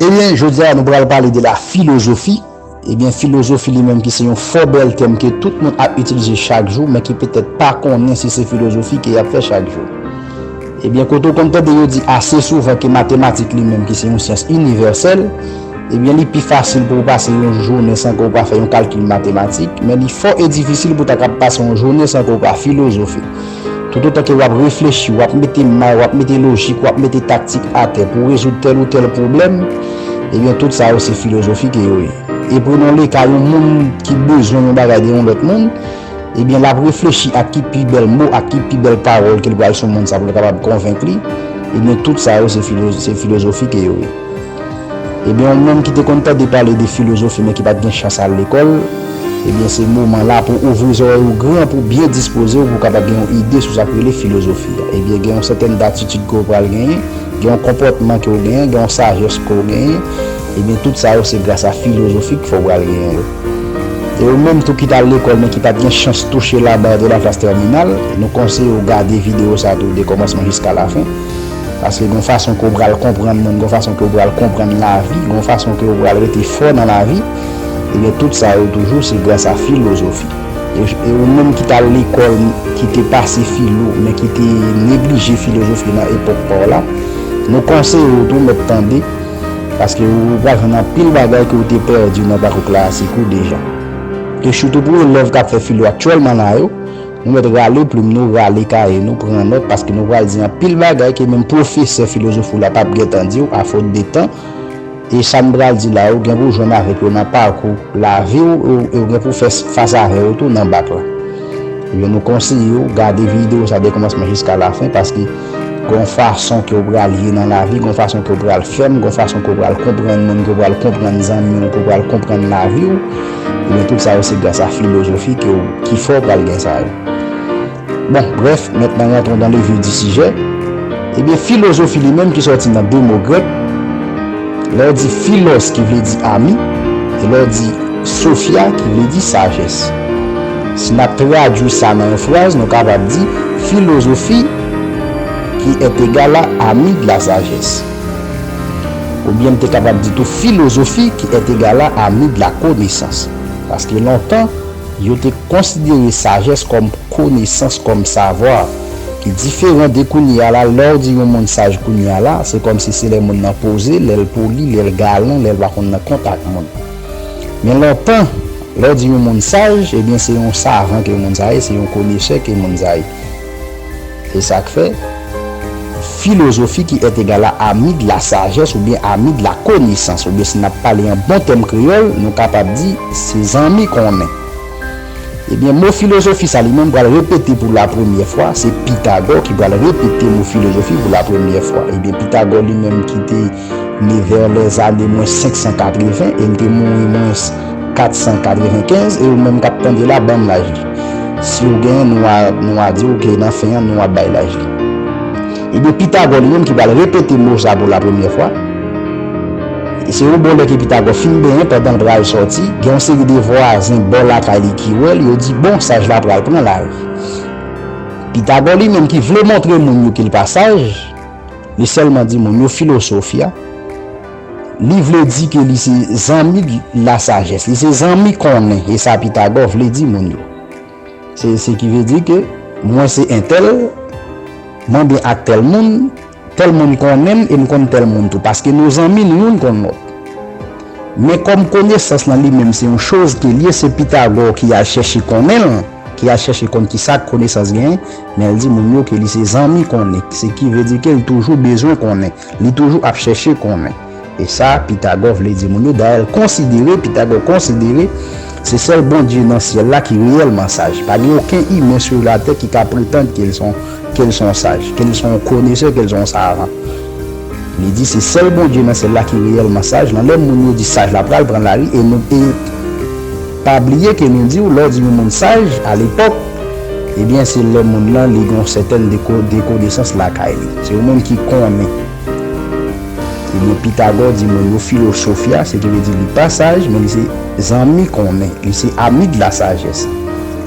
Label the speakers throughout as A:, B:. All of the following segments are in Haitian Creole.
A: Ebyen jodi a nou pral pale de la filozofi, ebyen filozofi li menm ki se yon fò bèl tèm ke tout moun ap itilize chak jou men ki petèt pa konnen si se filozofi ke y ap fè chak jou. Ebyen kote ou konn tande yo di ase souvan ke matematik li menm ki se yon syans inivèsèl, ebyen li pi fasil pou ou pase yon jounen san ke ou pa fè yon kalkil matematik, men li fò e difisil pou ta kab pase yon jounen san ke ou pa filozofe. Toutotan ke wap reflechi, wap mete may, wap mete lojik, wap mete taktik atè pou rezoud tèl ou tèl pwoblèm, ebyen tout sa yo se filozofi ke yo ye. E prenons le ka yon moun ki bezwen yon bagay de yon lòt moun, ebyen lap reflechi ak ki pi bèl mo, ak ki pi bèl pawòl ke li pral sou moun sa pou li kapab konvenk li, ebyen tout sa yo se filozofi ke yo ye. Ebyen ou menm ki te konn tande pale de filozofi men ki pat gen chans al lekòl, ebyen se moman la pou ouvri zòrèy ou gran pou byen dispoze w pou w kapab gen yon ide sou sa k rele filozofi. Ebyen gen yon sètèn datitid ke w pral genyen, gen yon konpòtman ke w genyen, gen yon sajès ke w genyen, ebyen tout sa yo se gras a filozofi k fè w pral genyen yo. E ou menm tou ki t al lekòl men ki pat gen chans touche la barre de la classe terminale, nou konseye w gade videyo sa tou de kòmansman jiska lafen. Paske gon fason ke w pral konprann moun, gon fason ke w pral konprann lavi, gon fason ke w pral rete fò nan lavi, ebyen tout sa yo toujou se gras a filozofi. E ou menm ki t al lekòl, ki te pase filo, men ki te neglije filozofi nan epòk pa w la, nou konseye w tou mèt tande, paske ou pral jwenn anpil bagay ke w te pèdi nan pakou klasik ou deja. E sitou pou elèv k ap fè filo aktyèlman la yo, Nou mèt rale plim nou, rale kaye nou, pran nòt paske nou pral di anpil bagay ke menm pwofesè filozofi w la pap gentan di w a fot de tan. E sa n pral di la yo gen pou w jwenn avèk yo nan pakou lavi w e w gen pou w fè fas avè yo tou nan bak la. Ebyen nou konseye w gade videyo sa de kòmansman jiska lafen paske gon fason ke w pral ye nan lavi, gon fason ke w pral fèm, gon fason ke w pral konprann moun, ke w pral konprann zanmi w, ke w pral konprann lavi w. Ebyen tout sa yo se gras a filozofi ke w ki fè w pral gen sa yo. Bon, brèf, maintenant rentrons dans le vif du sujet, Ebyen filozofi li menm ki sòti nan 2 mo grèk, lè w di philos ki vle di ami, e lè w di sophia ki vle di sajès. Si n ap tradui sa nan yon fraz, nou kapab di, Philosophie qui est égale à ami de la sagesse. Oubyen m te kapab di tou filozofi ki èt egal a ami de la konesans. Paske lontan, yo te konsidere sajès kòm konesans, kòm savoir, ki diferan de kounye a la. Lè w di yon moun saj kounye a la, se kòm si se lè moun nan poze, lè l poli, lè l galan, lè l pa konn nan kont ak moun. Men lontan, lè w di yon moun saj, ebyen se yon savan ke moun sa ye, se yon konesè ke moun sa ye. Se sa k fè, filozofi ki è egal a ami de la sagesse oubyen ami de la connaissance oubyen si n ap pale an bon tèm kreyòl, nou kapab di se zanmi konnen. Ebyen, mo filozofi sa li menm pral repete pou lapremyè fwa, se Pythagore ki pral repete mo filozofi pou lapremyè fwa. Ebyen, Pythagore li menm ki te. ne vè lè zane mwens 580 e m te mouri mwens 495 e ou menm kap tande la banm laj li si ou gen nou a nou a di ok nan fen an nou ap bay laj li ebyen pitagò li menm ki pral repete mo sa pou la premyè fwa e se yon bon lè ke pitagò fin benyen pandan l pral sòti gen yon seri de vwazen bò lakay li ki wè l yo di bon saj la pral pran lari pitagò li menm ki vle montre moun yo ke l pa saj. Li sèlman di moun yo filosof ya. Li vle di ke li se zanmi la sajès. Li se zanmi konnen. E sa Pitagò vle di moun yo. Se ki vle di ke mwen se entèl, mwen byen ak tèl moun, tèl moun konnen m e m konn tèl moun tou. Paske nou zanmi, nou youn konn lòt. Men kòm konesans lan li menm se yon choz ke l ye, se Pitagò ki al chèche konnen l, ki al chèche konn ki sa konesans genyen. Men l di moun yo ke li se zanmi konnen, se ki vle di ke l toujou bezwen konnen, li toujou ap chèche konnen. E sa Pitagò vle di moun yo, dayè l konsidere, Pitagò konsidere, se sèl Bondye nan syèl la ki reyèlman saj. Pa gen oken imen sur la tè ki ka pretand ke l s on, ke l s on saj, ke l s on konesè, ke l s on savan. Li di se sèl Bondye nan syèl la ki reyèlman saj, lan lè moun yo di saj la pral pran lari e nou, e. Pa bliye ke nou diw lè w di yon moun saj a lepòk ebyen se lè moun lan li gen yon sètèn de konesans lakay li. Se yon moun ki konnen. Ebyen Pitagò di moun yo Philosophia se ki vle di li pa saj men li se zanmi konnen, li se ami de la sagesse.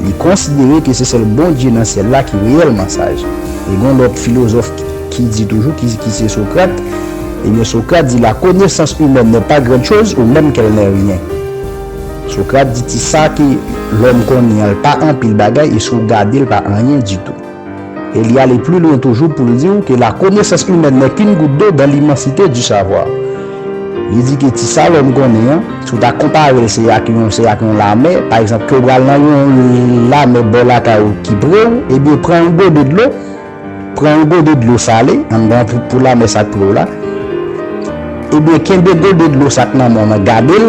A: Li konsidere ke se sèl Bondye nan syèl la ki reyèlman saj. E gen yon lòt filozòf ki di toujou ki se Socrate, ebyen Socrate di la connaissance humaine n'est pas grande chose ou même qu'elle n'est rien. Socrate di ti sa ke lòm konnen an l pa anpil bagay e si w gade l pa anyen ditou. E li ale pli lwen toujou pou l di w ke la connaissance humaine n'est qu'une goutte d'eau dans l'immensité du savoir. Li di ke ti sa lòm konnen an, si w ta konpare l se ak yon se ak yon lamè, pa egzanp ke w pral nan yon lamè bò lakay ou ki pre w, ebyen pran yon gode dlo, Pran yon gode dlo sale anndan trip poul la, men sa k pre w la. Ebyen, kenbe gode dlo sa k nan men w lan, gade l,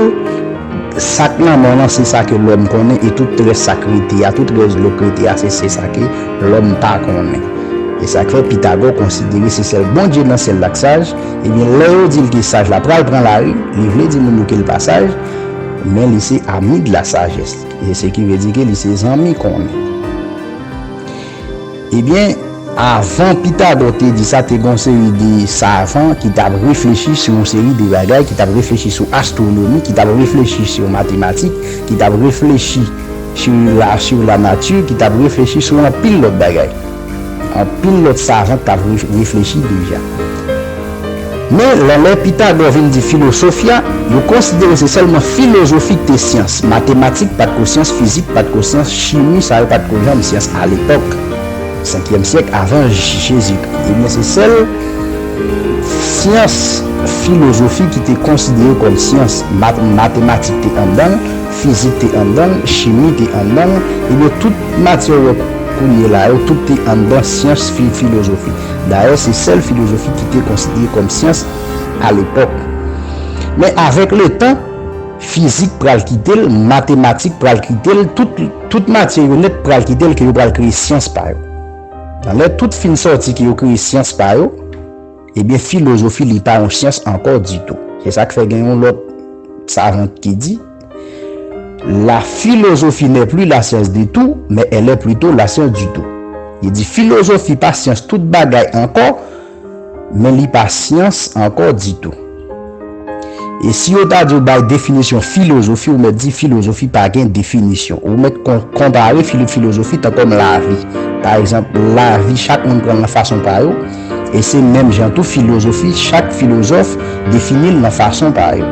A: sa k nan men w lan se sa ke lòm konnen e tout rès sa k rete a, tout rès dlo k rete a se se sa ke lòm pa konnen. E sa k fè Pitagò konsidere se sèl Bondye nan syèl la k saj, ebyen lè yo di l ke saj la pral pran lari, li vle di moun yo ke l pa saj, men li se ami de la sagesse, se ki vle di ke li se zanmi konnen. Ebyen, avan Pitagò te di sa, te gen yon seri de savan ki t ap reflechi sou yon seri de bagay, ki t ap reflechi sou astwonomi, ki t ap reflechi sou matematik, ki t ap reflechi sou lanati, ki t ap reflechi sou anpil lòt bagay. Anpil lòt savan t ap reflechi deja. Men, lan lè Pitagò vin di filosofia, yo konsidere se sèlman filozofi k te syans. Matematik pa t ko syans, fizik pa t ko syans, chimi, sa yo pa t ko janm syans alepòk, senkyèm syèk avan Jezikri. Ebyen, se sèl syans filozofi ki te konsidere kòm syans. Mat, matematik te anndan l, fizik te anndan l, chimi te anndan l. Ebyen, tout matyè ou wè kounye la yo, tout te anndan syans fi, filozofi. Dayè se sèl filozofi ki te konsidere kòm syans alepòk. Men avèk letan, fizik pral kite l, matematik pral kite l, tout tout matyè yo nèt pral kite l ke yo pral kreye syans pa yo. Nan lè tout fin sòti ke yo kreye syans pa yo, ebyen filozofi li pa yon syans ankò ditou. Se sa k fè gen yon lòt savant ki di. La philosophie n'est plus la science de tout, mais elle est plutôt la science du tout. Li di filozofi pa syans tout bagay ankò, men li pa syans ankò ditou. E si yo ta di w bay definisyon filozofi, ou mèt di filozofi pa gen definisyon. Ou mèt konpare filozofi tankòm lavi. Pa egzanp, lavi chak moun pran l nan fason pa yo. e se menm jan tou filozofi chak filozòf defini l nan fason pa yo.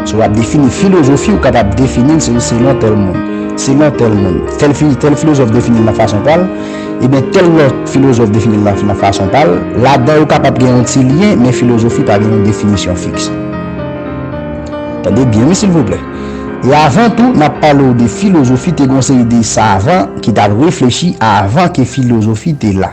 A: Si w ap defini filozofi ou kapab defini l se selon tèl moun, selon tèl moun, tèl filozòf defini l nan fason pa l, ebyen tèl lòt filozòf defini l nan fason pa l, ladan yo kapab gen yon ti lyen men filozofi pa gen yon definisyon fiks. Tande byen wi silvouplè. E avan tou n ap pale w de filozofi te gen yon seri de savan ki t ap reflechi avan ke filozofi te la.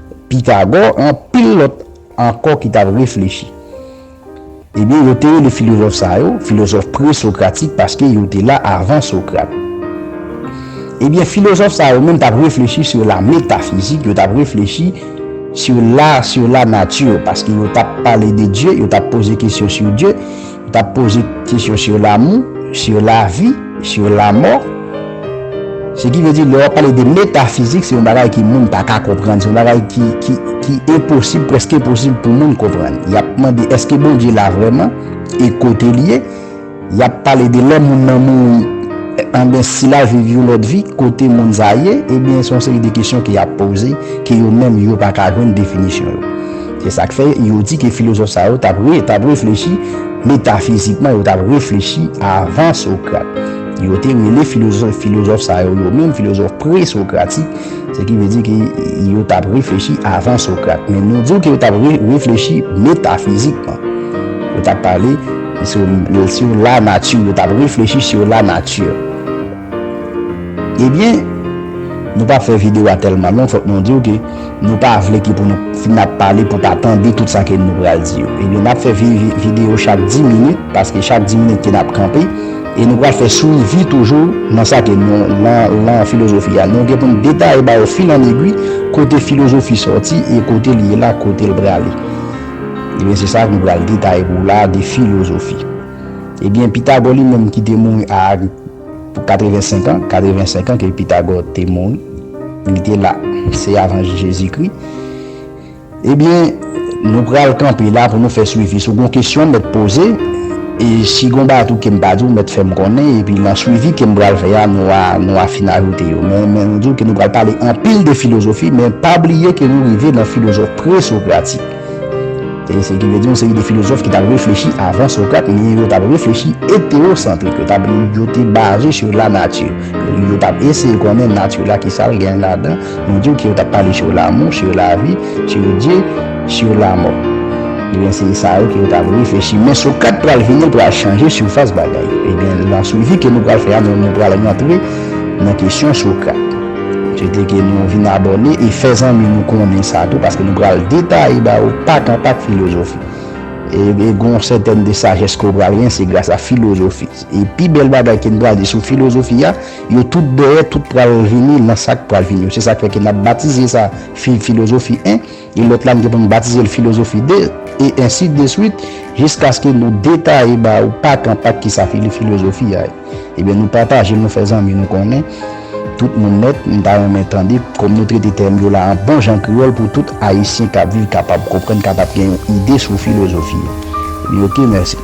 A: Pitagò, anpil lòt ankò ki t ap reflechi. Ebyen, yo te rele filozòf sa yo filozòf presokratik paske yo te la avan Sokrat. Ebyen, filozòf sa yo menm t ap reflechi sou la metafizik, yo t ap reflechi sou la sou la nati paske yo t ap pale de Dye, yo t ap poze kesyon sou Dye. Ou ta poze kesyon sur l'amour, sur la vie, sur la mort. Se ki vle di lè wap pale de metafizik se yon bagay ki moun pa ka konprann, se yon bagay ki enposib, preske enposib pou moun konprann. Yap mande eske Bondye la vreman e kote li ye? Yap pale de lè moun nan mouri enben si lal viv yon lòt vi kote moun sa ye? Ebyen se yon seri de kesyon ke yap poze ke yo menm yo pa ka jwenn definisyon yo. Se sa k fè yo di ke filozòf sa yo t ap reflechi metafizikman, yo t ap reflechi avan Sokrat. Yo te rele filozòf sa yo yo menm filozòf pre-sokratik, se ki vle di ke yo t ap reflechi avan Sokrat. Men nou di w ke yo t ap reflechi metafizikman. Yo t ap pale sou lanati, yo t ap reflechi sou lanati. Ebyen, nou pa fè videyo a tèlman long, fòk nou di w ke. Nou pa vle ki pou nou fin ap pale pou pa tande tout sa ke nou pral di yo. Ebyen nap fè video chak 10 minit paske chak 10 minit ke nap kanpe e nou pral fè swivi toujou nan sa ke nou nan filozofi a. Nou gen pou nou detaye ba yo fil an egwi kote filozofi sòti e kote li ye la kote li prale. Ebyen se sa nou pral detaye pou ou la de filozofi. Ebyen Pitagò li menm ki te mouri a. Pou 85 an, 85 an ke Pitagò te mouri, li te la, se avan Jezikri, ebyen, nou pral kanpe la pou nou fè swivi. Si w gon kesyon m mèt poze, e si gon bagay tou ke m pa di w, mèt fè m konnen, epi nan swivi ke m pral fè a, nou a, nou a fin ajoute yo. Men, men nou di w ke nou pral pale anpil de filozofi, men pa bliye ke nou rive nan filozòf presokratik. E se ki vle di yon seri de filozòf ki t ap reflechi avan Socrate men yo t ap reflechi etewosantrik, yo t ap yo te baze sou lanati. Yo t ap eseye konnen nati la ki sa l gen ladan, nou di w ke yo t ap pale sou lamou, sou lavi, sou Dye, sou lamò. Ebyen se sa yo ke yo t ap reflechi men Socrate pral vini l pral chanje sifas bagay. Ebyen lan swivi ke nou pral fè a nou pral rantre nan kesyon Socrate. Souwete ke nou vin abòne e fè zanmi nou konnen sa tou paske nou pral detaye ba ou pak an pak filozofi. E gon sètèn de sajès ke ou pral gen se gras a filozofi. E pi bèl bagay ke nou pral di sou filozofi a, yo tout dèyè tout pral vini lan sak pral vini yo. Se sak fè ke nap batize sa filozofi 1. E lòt la m gen pou m batize l filozofi de, e ensi de swit, jiskaske nou detaye ba ou pak an pak kisa filozofi a ye. Ebyen nou pataje l, nou fè zanmi nou konnen tout moun nèt. M ta renmen tande kòm nou trete tèm yo la an bon jan kreyòl pou tout Ayisyen k ap viv kapab konprann, kapab gen yon ide sou filozofi yo. Ebyen ok, mèsi.